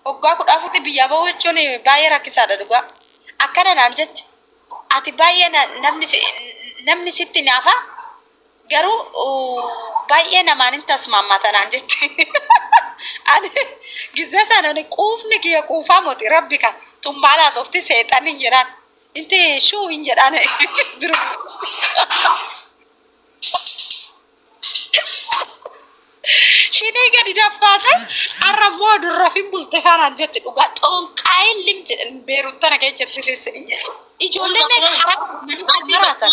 Waggaa kudha afuritti biyyaa bahuu jechuun baay'ee rakkisaadha dhugaa. Akkana naan jette. Ati baay'ee namni sitti naafa Garuu baay'ee namaan hin tasmaammata naan jetti. Ani gizee sana ani quufni kiyya quufaa moti rabbi kan tun maal haasofti seexanni hin jedhaan. Inti shuu hin jedhaan. Shinii gadi daffaate har'a immoo durraf hin bultifaa naan jetti dhugaa xoonqaayin lim jedhan beerut tana kee jirti sissin hin jedhe. Ijoolleen meeqa haraa maraatan.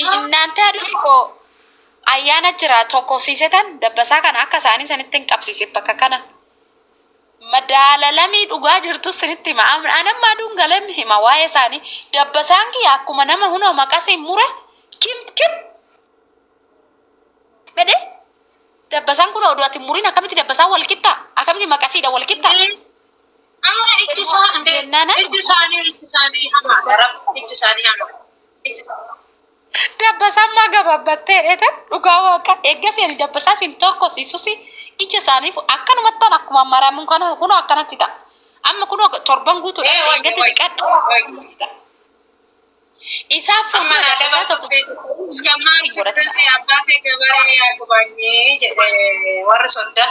እናante haadhoti koo ayyaana jira tokkofsiisetan dabbasaa kana akka isaanii sanitti hin qabsiise bakka kana madaalalamii dhugaa jirtu sinitti hima anamma aduun galem hima waa'ee isaanii dabbasaan kiyya akkuma nama hunoo maqasii mure kim kim jedhe dabbasaan kun oduu ati muriin akkamitti dabbasaan wal qixxaa akkamitti maqasiidha wal qixxaa Amma ijji isaanii ijji isaanii ijji isaanii hamaadha rabbi ijji isaanii hamaadha. Dabbasaan maa gabaabbattee dheete dhugaa waaqa eeggasi ani dabbasaa sin tokko sisusi ija isaaniif akkanumattan akkuma maramu kana kunoo akkanatti ta'a. Amma kunoo torban guutuu dha eeggatti dhiqadha. Isaa fuuma dabbasaa tokko Iskammaan guddansi abbaa kee gabaree yaa gubaanyee jedhe warri soddaa.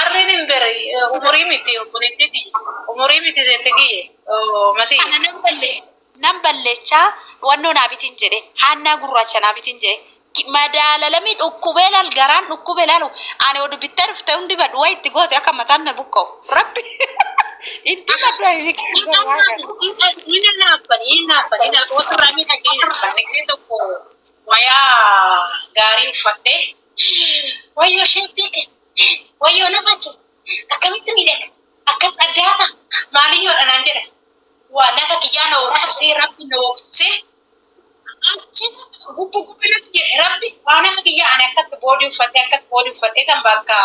Arrin hin bere umurii miti obboleettii tiyya. Umurii miti jette giyye masii. Kana nan balle nan ballechaa wannoo naa bitin jedhe haannaa gurraacha naa bitin jedhe madaalalami dhukkubee laal garaan dhukkube laalu ani odu bittee dhufte hundi badu way itti goote akka mataan na buqqa'u rabbi itti badu ani ni kenna yaa gara. Inni naafan inni naafan inni naafan otu irraa miidhagee hin argine tokko wayaa gaarii uffattee Wayyo sheeppii kee. Wayyo nama kee. Akkamitti miidhaga. Akkas addaa ta'a. Maaliyyoodha naan jedha. Waa lafa kiyyaa na hoksisee rabbi na hoksisee achi gubbu gubbi natti jedhe rabbi waa lafa kiyyaa ani akkatti boodii uffadhee akkatti boodii uffadhee tan bakka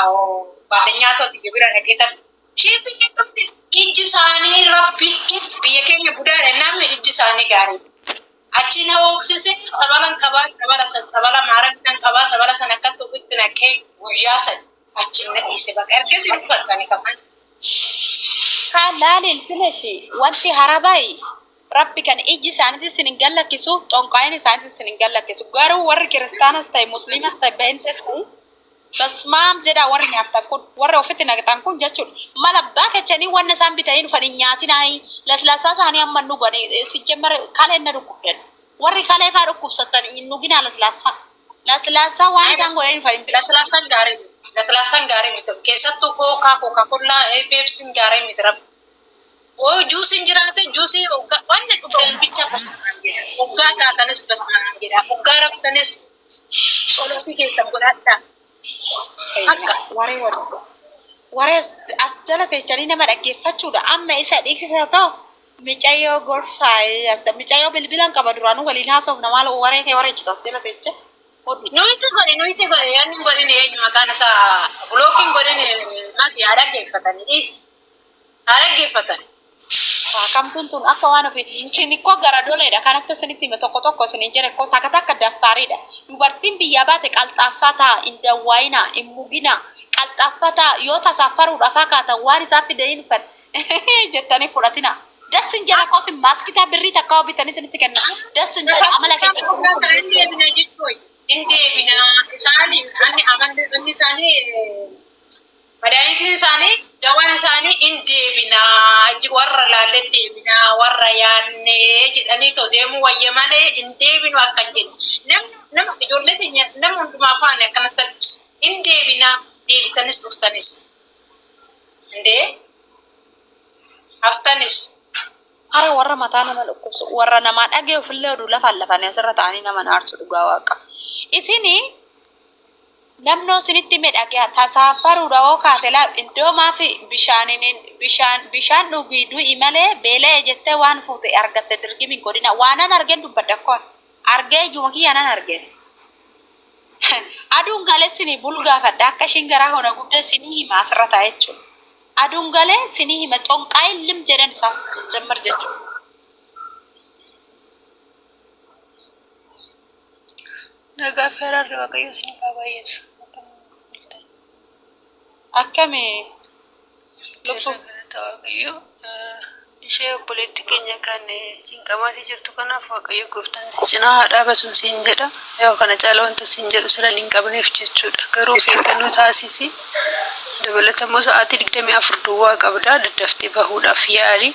baadhanyaa tooti bira dhaqee tan sheeppii kee qabdi. Ijji isaanii rabbi biyya keenya budaadha namni ijji isaanii gaarii. Achi na hooksise, tsabalan qabaa, tsabala san, tsabala maaragdaan qabaa, tsabala san akkatti ofitti naqee guyyaa sadi achiin na dhiise baqa. Ergasii hin dubbatu ani kaman. Kaa laali ilfineshi wanti harabayi rabbi kan ijji isaaniti isin hin gallakkisu xonqaayin isaaniti isin hin gallakkisu garuu warri kiristanas tahe muslimas tahe benxes tahe Basmaam jedhaa warri nyaattan kun warri ofitti naqxan kun jechudha mal abbaa kechanii wanna isaan bitanii dhufan hin nyaatinaayii laslaasaa isaanii amma hin dhuganii sijjammer kaleen na dhukkubdan warri kalee faa dhukkubsattan hin dhuginaa laslaasaa laslaasaa waan isaan godhanii dhufan hin beektu. Laslaasaan gaarii miti laslaasaan gaarii miti keessattuu kookaa kookaa kollaa peepsiin gaarii miti rabbi oo juusiin jiraate juusii oggaa wanna dhugdan bicha basmaam jedhaa oggaa kaatanis basmaam jedhaa oggaa raftanis Tsolootii keessan godhadhaa. Haqqa. Waree waree. Waree as jala teechanii nama dhaggeeffachuudha amma isa dhiiksisa too. Micayoo gorsaa yatta micayoo bilbilan qaba duraanu waliin haasofna maal waree kee wareechitu as jala teecha oduu. Nuyti godhi nuyti godhi yan hin godhini eenyu maqaan isaa blocking godhini mati haa dhaggeeffatani dhiisi. Haa dhaggeeffatani. Kamtuun tun akka waan ofiiti. Isin ikkoo garadoleedha kan akka isinitti hime tokko tokko isiniin jedhe ikkoo takka takka daffaariidha. Dubartiin biyyaa baate qalxaaffaa tahaa hin dawwaayinaa hin muginaa qalxaaffa tahaa yoo tasaa faruudhafaa kaatan waan isaan fide hin fed jettanii hin fudhatinaa das hin jedhu akkoo isin maaskitaa birrii takkaa yoo bitanii isinitti kennan das hin jedhu amala Bakka keessan dhugaa kana hin deebina jechuu wayya. Hin deebina isaaniin anni amanni isaanii Madaanitiin isaanii, dawaan isaanii in deebina, warra laallee deebina, warra yaanne jedhanii too deemuu wayya malee in deebinu akka hin jenne. Namni, nama, ijoollee teenya nama hundumaa faana akkanatti dubbisi. In deebina, deebitanis dhuftanis. Indee, haftanis. Hara warra mataa nama dhukkubsu, warra namaa dhagayuuf illee oduu lafaan lafanii asirra ta'anii nama hin aarsu dhugaa waaqa. Isin. Namnoo sinitti hime dhageha tasaafaru dha hoo kaate laal indoo maafi bishaan bishaan dhugi du'i male beela'e jette waan fuute argatte dirgim hin godhina waanan argen dubbadha ok argee ijuma kiyyanan arge aduun gale sini bul gaafadha akka ishin garaa koo na gubde sini hima asirra taa'e jechu aduun gale sini hima xonqaayin lim jedhen isa sijjammar jechu Nagaa fi araarri Waaqayyoo isiniif haa baay'atu. Akkami lubbu galata Waaqayyoo ishee obboleetti keenya kan cinqamaatii jirtu kanaaf Waaqayyo gooftaan si cinaa haa dhaabatu siin jedha. Yoo kana caala wanta siin jedhu sira hin qabneef jechuudha. Garuu of eeggannoo taasisi. Dabalata immoo sa'aatii 24 duwwaa qabda daddaftee bahuudhaaf yaali.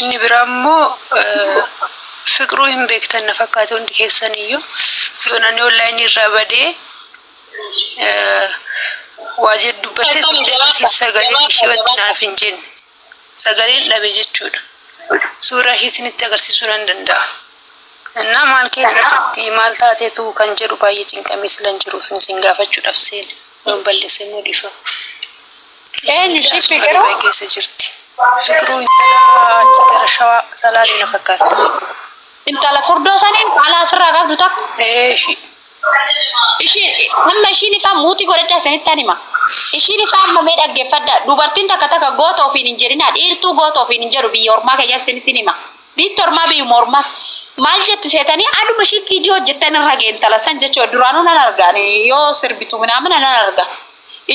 Inni biraa immoo Fiqruu hin beektan na fakkaata hundi keessan iyyuu. Yoon ani online irraa badee waa jedhu dubbattee Akkam turte jabaadha, asiis sagaleen jabaadha, ishee wanti jabaadha. naaf hin jenne. Sagaleen dhabe jechuudha. Suuraa ishee isinitti agarsiisuu nan danda'a. Innaa maal keessa jirti maal taatetu kan jedhu baay'ee cinqamee silan jiru sun isin gaafachuudhaaf seene. Yoon balleesse immoo dhiifama. Eenyu ishii fiqiruu? Dubai keessa jirti. Fiqiruu intala achi gara shawaa salaalee na fakkaatti. Intala furdoo saniin ala asirraa qabdu takka. Ee ishii. Ishii amma ishiin ifaa muutii godhadhaa isinittan hima. Ishiin ifaa amma mee dhaggeeffadhaa. Dubartiin takka takka goota ofiin hin jedhinaa. Dhiirtuu goota ofiin hin jedhu biyya ormaa keessatti isinittin hima. Biitti ormaa biyyuma ormaa. Maal jetti seetanii aduma ishiin viidiyoo hojjettan irra ga'e intala san jechuudha. Duraanuu nan arga ani yoo sirbitu minaamina nan arga.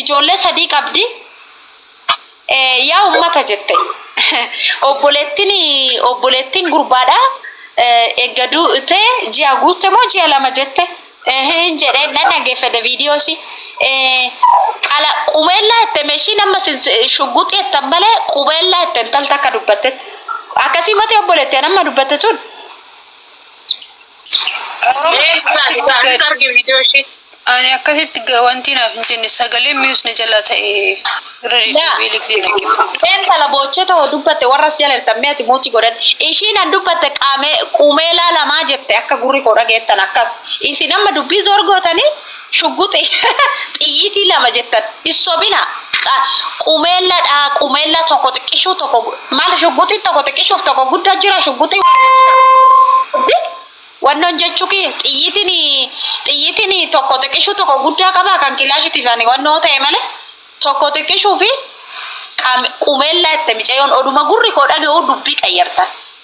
Ijoollee sadii qabdi. Yaa ummata jette. Obboleettiin obboleettiin gurbaadha. Egga duute ji'a guutte moo ji'a lama jette. Hin jedhee nan dhaggeeffate viidiyoosi. Qala qubeellaa itti meeshiin amma shugguxii itti malee qubeellaa itti intalta akka dubbattetti. Akkasii mati obboleetti amma dubbatte tun. Ani akkasitti ga- wanti naaf hin jenne sagaleen mius na jalaa ta'e irra deddeebi'ee liksee dhaggeeffadha. Intala boochee too dubbatte warras jala jirtan mee ati muuti godhan. Ishiin an dubbatte qaamee quumeelaa lamaa jette akka gurri koo dhageettan akkas. Isin amma dubbii zoor gootanii Shugguxii xiyyitii lama jettan hin sobina qa qumeella dha qumeella tokko xiqqishuu tokko gu maal shugguxii tokko xiqqishuuf tokko gudda jira shugguxii wal di wannoon jechuu kiyya xiyyitiin xiyyitiin tokko xiqqishuu tokko guddaa qaba kan kilaashitiif ani wannoo ta'e malee tokko xiqqishuu fi qam- qumeella itti micayoon oduma gurri koo dhaga'uu dubbii qayyartan.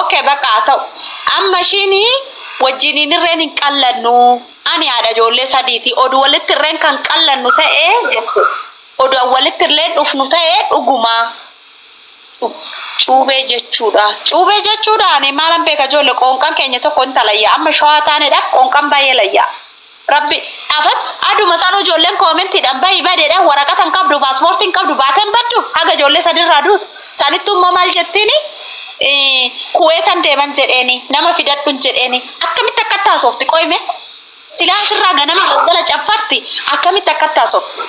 ok baqa haa ta'u amma ishiin wajjiniin irreen hin qallannu ani haadha ijoollee sadiiti odu walitti irreen kan qallannu ta'e jette odu an walitti illeen dhufnu ta'e dhuguma cuubee jechuudha cuubee jechuudha ani maalan beeka ijoollee qoonqan keenya tokko hin talayya amma shawaa taanedhaaf qoonqan baay'ee layyaa Rabbi afan aduma sanu ijoolleen koomentidhan bahi badedha waraqata hin qabdu paaspoortii hin qabdu baatee hin baddu haga ijoollee sadi irraa duutu sanittu immoo maal jettiini kuweetan deeman jedheeni nama fidadhun jedheeni akkamitti akkatti haasofti qoyme silaa asirraa ganama galgala caffarti akkamitti akkatti haasofti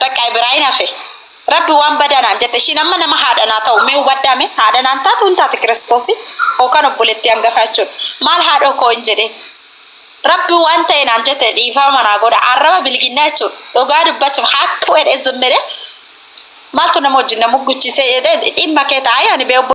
Baqqaa biraa hin hafe. Rabbi waan badaa naan jette ishiin amma nama haadha naa ta'u mee hubadhaa mee haadha naan taatu hin taati kiristoosi hookan obboleettii hangafaa jechuun maal haadhoo koo hin jedhee Rabbi waan ta'e naan jette dhiifama naa godha arraba bilginnaa jechuun dhugaa dubbachuuf haakka wedhe zimmedhe maaltu nama wajjin na mugguchiisee jedhee dhimma kee ta'a yaani bee obbo